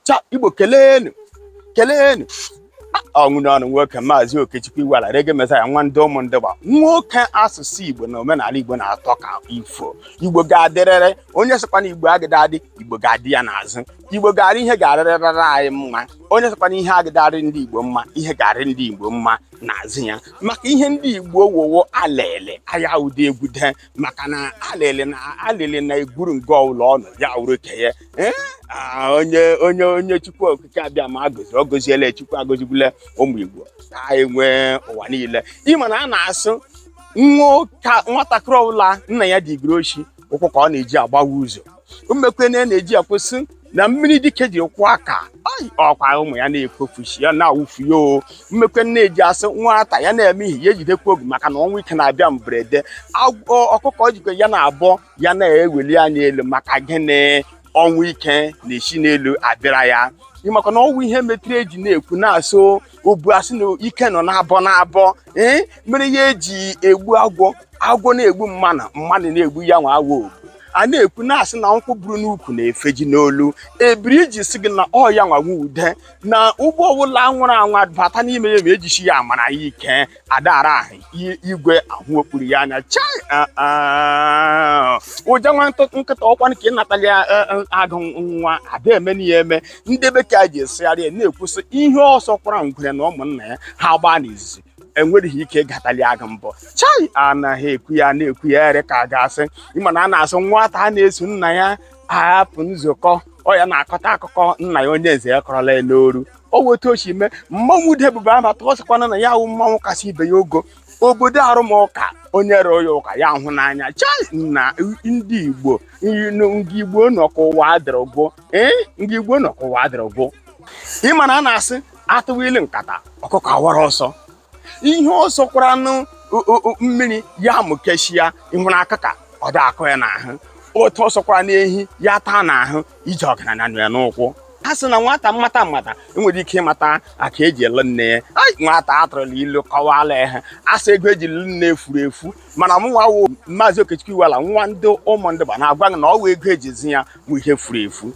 cha igbo kelenu kelenu ọ wụ n'ọnụ nwoke maazị okechukwu iweala reggae messiah nwa ndị ụmụndụgba nwoke asụsụ igbo na omenala igbo na-atọ ka ifo igbo ga-adịrịrị onye sịkwa na igbo agịda adị igbo ga-adị ya n'azụ igbo ga-arị ihe ga-arịrịrị anyị mma onye sịkwa na ihe agịda arị ndị igbo mma ihe ga-arị ndị igbo mma n'azụ ya maka ihe ndị igbo wowo alele aya ude egwu dee maka na alịlị na alịlị na-egwuru nga ọbụla ọ nọ ya wụrụ ke ya Eh, ah, onye onye onye chukwu okike abịama gọzi ọ gọziela chukwu agọzigbula ụmụ igbo anyị nwe ụwa niile ị ma na a na-asị nwa ụka- nwatakịrị ọbụla nna ya digiri oshi ụkwụ ka ọ na-eji agbawa ụzọ mmekwe na na-eji ekwusị na mmiri dike ji kwọọ aka ọkwa ụmụ ya na-ekwofushi ya na-awụfu ya o mmekwe na-eji asị nwata ya na-eme ihe ya ejidekwa ogu maka na ọnwụ ike na-abịa mberede ọkụkọ jikwa ya na-abọ ya na-eweli anya elu maka gịnị ọnwụ ike na-esi n'elu abịara ya maka na ọ wụ ihe metụrụ eji na-ekwu na-asị obu asị na ike nọ n'abọ n'abọ ee mere ihe eji egbu agwọ agwọ na-egbu mmanụ mmanụ na-egbu ya nwa agwọ obu a na-ekwu na-asị na nkwụ buru n'ukwu na-efeji n'olu ebiri iji sị gị na ọ ya nwa nwe ude na ụgbọ ọbụla nwara anwa bata n'ime ya ma ejisi ya amara ya ike adara ahụ i- igwe ahụ okpuru ya anya chai ah, ah. ụja nwa ntụ- nkịta ọkwanụ ke ịnatali ya, eh, eh, agụ nwa ada eme n'ihe eme ndị bekee ji esegharị ya na-ekwusị ihe ọ sọkwara ngwere na ụmụnna ya ha gbaa n'izuzu enwereghị ike ịgatali agụ mbọ chai anaghị ekwu ya na-ekwu ya ere ka a ga-asị ị ma na a na-asị nwata a na-eso nna ya apụ nzukọ ọ ya na-akọta akụkọ nna ya onye nze ya kọrọla ya n'oru o wetu o si mee mmanwụ ude ebube ama tụọ sịkwana na ya wụ mmanwụ kasị ibe ya ogo obodo arụmụka onye rụọ ya ụka ya hụ n'anya chai na ndị igbo ndị igbo nọkọọ ụwa adịrị gboo ee ndị igbo nọkọọ ụwa adịrị gboo ị ma na a na-asị a tụwa ilu nkata ọkụkọ awara ọsọ ihe ọ sọkwara anụ mmiri ya amụkechia ịhụrụ akụka ọ da akụ ya n'ahụ otu ọ sọkwara n'ehi ya taa n'ahụ ije ọgaranya nọ ya n'ụkwụ ha sị na nwata mmata mmata enwere ike ịmata aka eji lụ nne ya nwata atụrụla ilu kọwala ya asị ego eji lụ nne e furu efu mana mụnwa wụ maazị okechukwu iweala nwa ndị ụmụndụgba na-agwa gị na ọ wụ ego eji zụ ya wụ ihe furu efu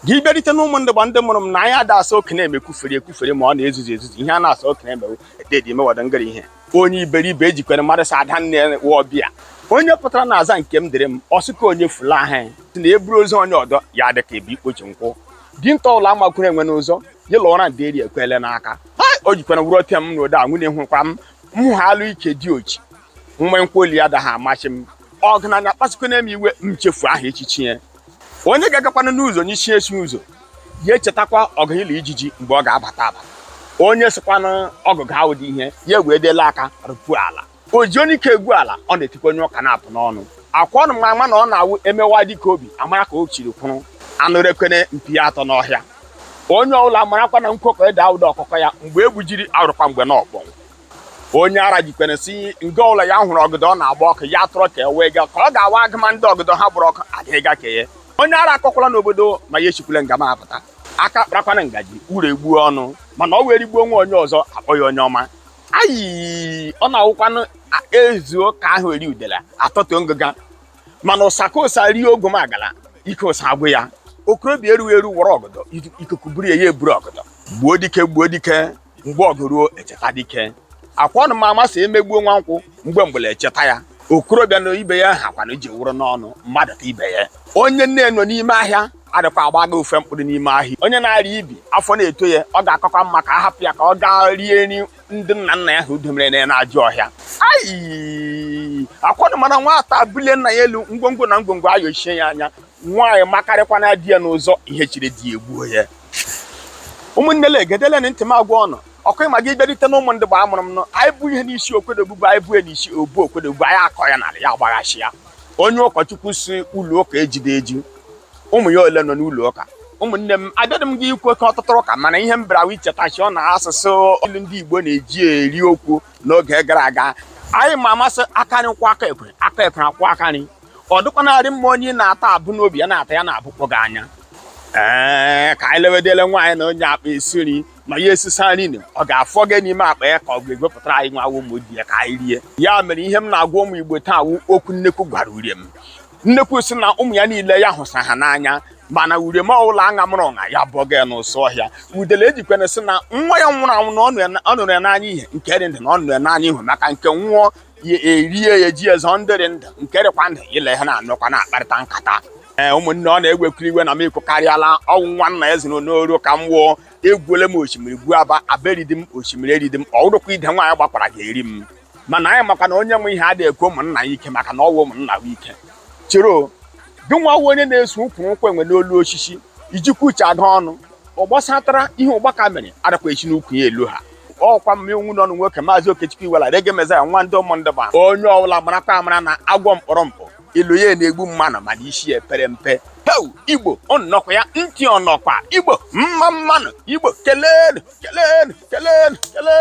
gị bịarite na ụmụndụgba ndị mụrụ m na anyị ada asọ okenye emekwufere ekwufere ma ọ na-ezuzu ezuzu ihe a na-asọ okenye emewu ededi mewada ngara ihe onye iberibe ejikwere mmadụ sa ada nne wa ọbịa onye pụtara na aza nke m dịrị m ọsị ka onye fula ahụ si na eburu ozu onye ọdọ ya dị ka ebu ikpochi nkwụ dinta ụlọ amakwuru enwe n'ụzọ ya lụọra ndị eri ekwele n'aka o jikwara wuru ọtịa m n'ode a nwunye hụkwa m m ha alụ ike diochi nwe nkwụ olu ya daghị amachi m ọgaranya kpasukwana m iwe m chefu aha echichi ya onye ga-agakwana n'ụzọ nyụchie nsị ụzọ ya echetakwa ọgụ ya la ijiji mgbe ọ ga-abata abata onye sịkwana ọgụ ga awụdị ihe ya wee dela aka rụpuo ala o ji onye ike egwu ala ọ na-etikwa onye ụka na-apụ n'ọnụ ọkwa ụnụ ma ama na ọ na-awụ emewa dịka obi amara ka o chiri kwụrụ anụ rekwene mpi ya atọ n'ọhịa onye ọbụla marakwa na nkwekọ ede awụdị ọkụkọ ya mgbe egbujiri awụrụkwa mgbe na ọkpọnwụ onye ara jikwere si nga ụlọ ya hụrụ ọgọdọ na-agba ọkụ ya tụrụ ka e wee ga ka ọ ga-awa agụma ndị ọgọdọ ha gbara ọkụ adịghịga ka ya onye ara akọkwala n'obodo ma ya esikwala nga m apụta aka kparakwana ngaji uru egbuo ọnụ mana ọ wee rigbuo nwa onye ọzọ akpọ ya onye ọma ayi ọ na-awụkwanụ ezuo ka aha eri udele atọtụ ngụga mana ụsa ka ụsa rie ogumagala ike ụsa agwụ ya okorobịa erughị eru wara ọgọdọ ikuku buru ya ya eburu ọgọdọ gbuo dike gbuo dike mgbe ọgụ ruo echeta dike ọkwa ụnụ ma ama sị emegbuo nwa nkwụ mgbe mgbele echeta ya okorobịa na ibe ya ha kwana iji wụrụ n'ọnụ mmadụ ka ibe ya onye nne ya nọ n'ime ahịa adịkwa agbaga ofe mkpụrụ n'ime ahịa onye na-arịa ibi afọ na-eto ya ọ ga-akakwa mma ka a hapụ ya ka ọ gaa rie nri ndị nna nna ya ha udomere na n'ajọ ọhịa ayi ọkwa ụnụ ma na nwata bulie nna ya elu ngwongwo na ngwongwo ayochie ya anya nwaanyị makarịkwana di ya n'ụzọ ihe chiri di ya egbuo ya ụmụnne le gedele na ntị m agwa ụnụ okwu ị ma gị bịarite na ụmụndịba amụrụ m nọ anyị bu ihe n'isi okwedobu bụ anyị bu n'isi obu okwedobu anyị akọ ya n'ala ya agbaghachi ya onye ụkọchukwu sị ụlọ ụka ejudị eju ụmụ ya ole nọ n'ụlọ ụka ụmụnne m abịadị m gị ikwu oke ọtụtụ ụka mana ihe m bịara ichetachi ụnụ asụsụ olu ndị Igbo na-eji eri okwu n'oge gara aga anyị ma ama sị aka nri kwọọ aka ekpe aka ekpe akwọọ aka nri ọ dịkwa na-adị mma onye na-ata abụ n'obi ya na-ata ya na-abụkpọ gị anya ee ka anyị lewedele nwaanyị na-anya akpa esi nri ma ya esisa nri na ọ ga-afọ gị n'ime akpa ya ka ọ ga-egwepụtara anyị nwa ụmụ di ya ka anyị rie ya mere ihe m na-agwa ụmụ igbo taa wụ okwu nnekwu gwara uriom nnekwu si na ụmụ ya niile ya hụsa ha n'anya mana uriom ọbụla aṅa mụrụ ọṅa ya bụọ gị n'ụsọ ọhịa udele ejikwena sị na nwa ya nwụrụ anwụ na ọ nụrụ ya n'anya ihe nke dị ndụ na ọ nụrụ ya n'anya ihe maka nke nwụọ ya erie ya ji ezo ndịrị ndụ nke dịkwa ndụ ya la ha na-anọkwa na-akparịta nkata ee ụmụnne ọ na-egwekiri iwe na m ekwukarịala ọ wụ nwa nna ya ziri n'oru ka m wụọ egwuole m osimiri gwuo Aba Aba eridi m osimiri eridi m ọ wụrụkwa ide nwaanyị gbakwara ga-eri m mana anyị makwa na onye nwe ihe adịghị ekwe ụmụnna ya ike maka na ọ wụ ụmụnna ya ike chiro gị nwa onye na-eso ụkwụ nkwụ enwe n'olu osisi ijikwa uche aga ọnụ ọ gbasatara ihe ụgbaka mere adakwa esi n'ukwu ya elu ha ọkwa m nwa ụnụ nwoke maazị Okechukwu Iwela Reggae Messiah nwa ndị ụmụndịba onye ọbụla marakwa amara na agwọ mkpụrụ mkpụ elo ya na-egbu mmadụ mana isi ya pere mpe heu igbo ọnọkwa ya ntị ọnọkwa igbo mma mmanụ igbo kelenu kelenu kelenu kelenu